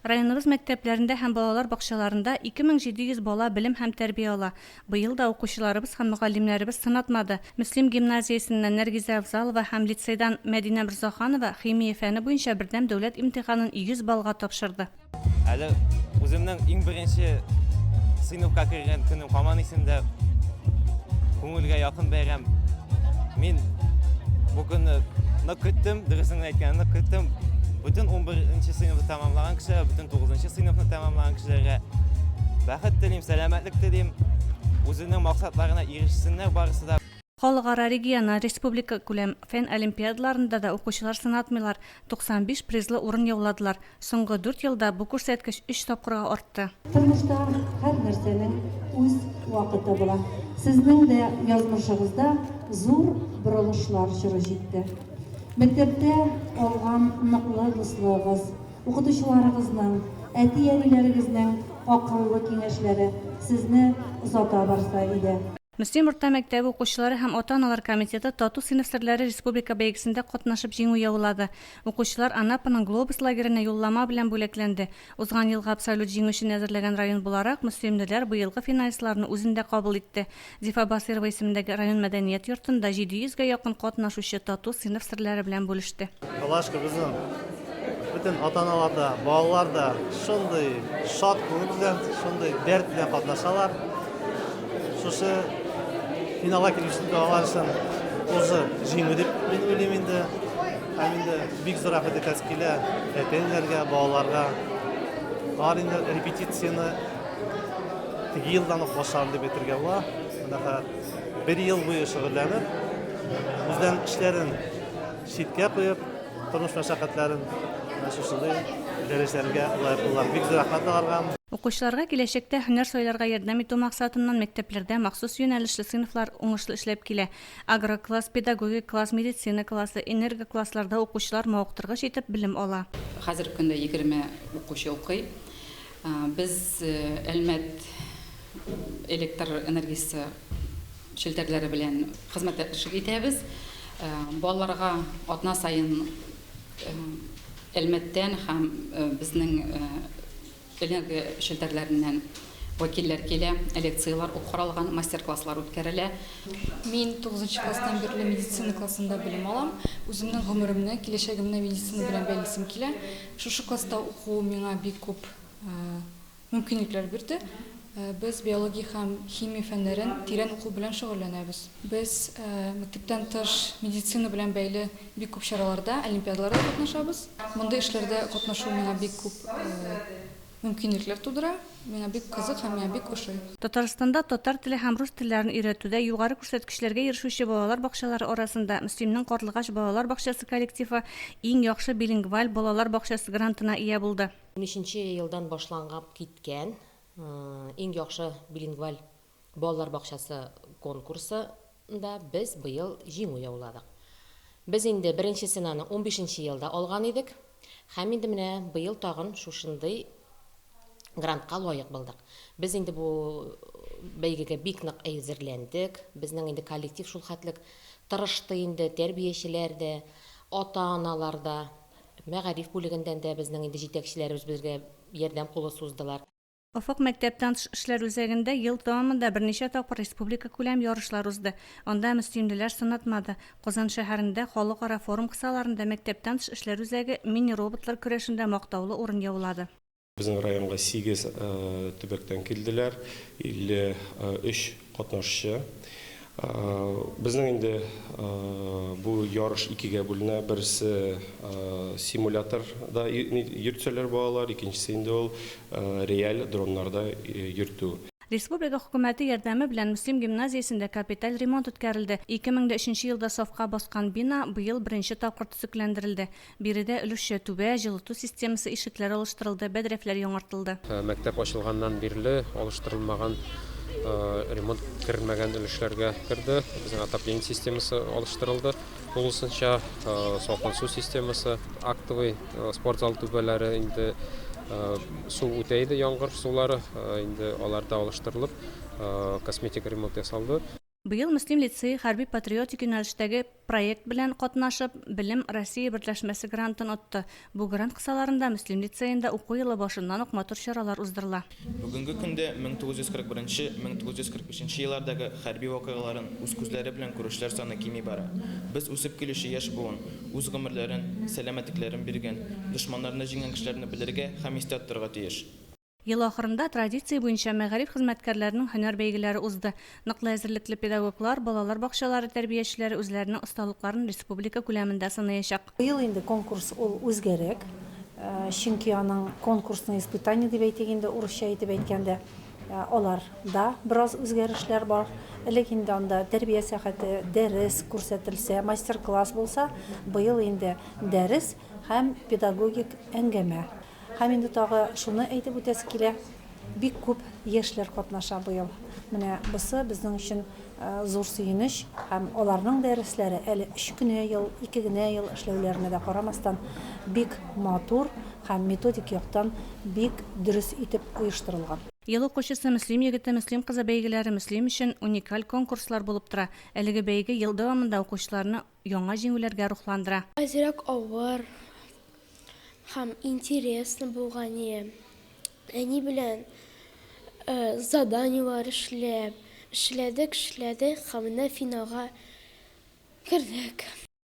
Районыбыз мәктәпләрендә һәм балалар бакчаларында 2700 бала белем һәм тәрбия ала. Быел да укучыларыбыз һәм мөгаллимнәребез сынатмады. Мөслим гимназиясеннән Нәргизә Авзалова һәм лицейдан Мәдинә Морзаханова химия фәне буенча бердәм дәүләт имтиханын 100 баллга тапшырды. Әле үземнең иң беренче сыйныфка кергән көнем һаман исемдә. Күңелгә якын бәйрәм. Мин бу көнне нык көттем, дөресен әйткәндә нык көттем. Бүтән 11 сыйныфны тәмамлаган кешеләр, бүтән 9 сыйныфны тәмамлаган кешеләргә бәхет телим, сәламәтлек телим. Үзенең максатларына ирешсеннәр барысы да. Халыкара, региональ, республикакүләм фән олимпиадаларында да укучылар сынатмыйлар. 95 призлы урын яуладылар. Соңгы дүрт елда бу күрсәткеч өч тапкырга артты. Тормышта һәр нәрсәнең үз вакыты була. Сезнең дә язмышыгызда зур борылышлар чоры җитте. Мәктәптә алган ныклы дуслыгыгыз, укытучыларыгызның, әти-әниләрегезнең акыллы киңәшләре сезне озата барса иде. Мөслим урта мәктәбе укучылары һәм ата-аналар комитеты Тату сыйныф серләре республика бәйгесендә катнашып җиңү яулады. Укучылар Анапаның Глобус лагеренә юллама белән бүләкләнде. Узган елгы абсолют җиңүчене әзерләгән район буларак, мөслимлеләр быелгы финалистларны үзендә кабул итте. Зифа Басыйрова исемендәге район мәдәният йортында 700 гә якын катнашучы Тату сыйныф серләре белән бүлеште. Палашка безнең Бөтен ата-аналар да, балалар да шундый шат күңел белән, шундый дәрт белән катнашалар. Шушы финалга килүче балалар өчен узы җиңү дип мин уйлыйм инде. Һәм инде бик зур рәхмәт әйтәсе килә әтиләргә, балаларга. Алар инде репетицияне теге елдан ук башларын дип әйтергә була. Менә бер ел буе шөгыльләнеп, үзләренең эшләрен Читкә куеп, тормыш мәшәкатьләрен шушындый дәресләргә лаеклылар. Бик зур рәхмәт аларга. Укучыларга киләчәктә һөнәр сайларга ярдәм итү максатыннан мәктәпләрдә махсус юнәлешле сыйныфлар уңышлы эшләп килә. Агрокласс, педагогик класс, медицина классы, энергоклассларда укучылар мавыктыргыч итеп белем ала. Хәзерге көндә егерме укучы укый. Без Әлмәт электр энергиясе челтәрләре белән хезмәттәшлек итәбез. Балаларга атна саен Әлмәттән һәм безнең энергия челтәрләреннән вәкилләр килә, лекцияләр каралган, мастер-класслар үткәрелә. Мин тугызынчы класстан бирле медицина классында белем алам. Үземнең гомеремне, киләчәгемне медицина белән бәйлисем килә. Шушы класста уку миңа бик күп мөмкинлекләр бирде. Без биология һәм химия фәннәрен тирән уку белән шөгыльләнәбез. Без мәктәптән тыш медицина белән бәйле бик күп чараларда, олимпиадаларда катнашабыз. Мондый эшләрдә катнашу миңа бик күп Мөмкинлекләр тудыра, миңа бик кызык һәм миңа бик ошый. Татарстанда татар теле һәм рус телләрен өйрәтүдә югары күрсәткечләргә ирешүче балалар бакчалары арасында Мөслимнең Карлыгач балалар бакчасы коллективы Иң яхшы билингваль балалар бакчасы грантына ия булды. Унөченче елдан башлангап киткән Иң яхшы билингваль Балалар бакчасы конкурсы нда без быел җиңү яуладык. Без инде беренче ценаны унбишенче елда алган идек һәм инде менә быел тагын шушындый грантка лаек булдык. Без инде бу бәйгегә бик нык әзерләндек. Безнең инде коллектив шул хәтлек тырышты инде, тәрбиячеләр дә, ата-аналар да, мәгариф бүлегендән дә безнең инде җитәкчеләребез безгә ярдәм кулы суздылар. Офык мәктәптән тыш эшләр үзәгендә ел дәвамында берничә тапкыр республикакүләм ярышлар узды. Анда мөслимлеләр сынатмады. Казан шәһәрендә халыкара форум кысаларында мәктәптән тыш эшләр үзәге мини-роботлар көрәшендә мактаулы урын яулады. Безнең районга сигез төбәктән килделәр, 53 Катнашчы. Безнең инде бу ярыш икегә бүленә. Берсе симуляторда йөртсәләр балалар, икенчесе инде ул реаль дроннарда йөртү. Республика Хөкүмәте ярдәме белән Мөслим гимназиясендә капиталь ремонт үткәрелде. 2003 елда сафка баскан бина быел беренче тапкыр төзекләндерелде. Биредә өлешчә түбә, җылыту системасы, ишекләр алыштырылды, бәдрәфләр яңартылды. Мәктәп ачылганнан бирле алыштырылмаган, ремонт кермәгән өлешләргә керде. Безнең отопление системасы алыштырылды тулысынча, салкын су системасы. Актовый спорт зал түбәләре инде су үтә иде, яңгыр сулары, инде алар да алыштырылып, косметик ремонт ясалды. Быел Мөслим лицее хәрби-патриотик юнәлештәге проект белән катнашып, Белем России берләшмәсе грантын отты. Бу грант кысаларында Мөслим лицеенда уку елы башыннан ук матур чаралар уздырыла. Бүгенге көндә 1941 1945 еллардагы хәрби вакыйгаларын үз күзләре белән күрүчеләр саны кими бара. Без үсеп килүче яшь буын, үз гомерләрен, сәламәтлекләрен биргән, дошманнарны җиңгән кешеләрне белергә һәм истә тотарга тиеш. Ел ахырында традиция буенча мәгариф хезмәткәрләренең һөнәр бәйгеләре узды. Ныклы әзерлекле педагоглар, балалар бакчалары тәрбиячеләре үзләренең осталыкларын республика күләмендә сынаячак. Быел инде конкурс ул үзгәрәк, чөнки аның конкурсные испытания дип әйтик инде, урысча итеп әйткәндә, аларда бераз үзгәрешләр бар. Элек инде анда тәрбия сәгате, дәрес күрсәтелсә, мастер-класс булса, быел инде дәрес һәм педагогик әңгәмә. Һәм инде тагы шуны әйтеп үтәсе килә, бик күп яшьләр катнаша быел. Менә бусы безнең өчен зур сөенеч. Һәм аларның дәресләре, әле өч кенә ел, ике генә ел эшләүләренә дә карамастан, бик матур һәм методик яктан бик дөрес итеп оештырылган. Ел укучысы, Мөслим егете, Мөслим кызы бәйгеләре Мөслим өчен уникаль конкурслар булып тора. Әлеге бәйге ел дәвамында укучыларны Яңа җиңүләргә рухландыра. Азрак авыр һәм интересный булган е. Әни белән заданиелар эшләп, эшләдек, эшләдек һәм менә финалга кердек.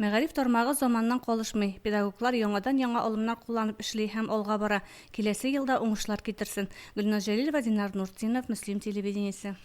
Мәгариф тармагы заманнан калышмый, педагоглар яңадан-яңа алымнар кулланып эшли һәм алга бара. Киләсе ел да уңышлар китерсен. Гөлназ Җәлилова, Динар Нуртдинов, Мөслим телевидениесе.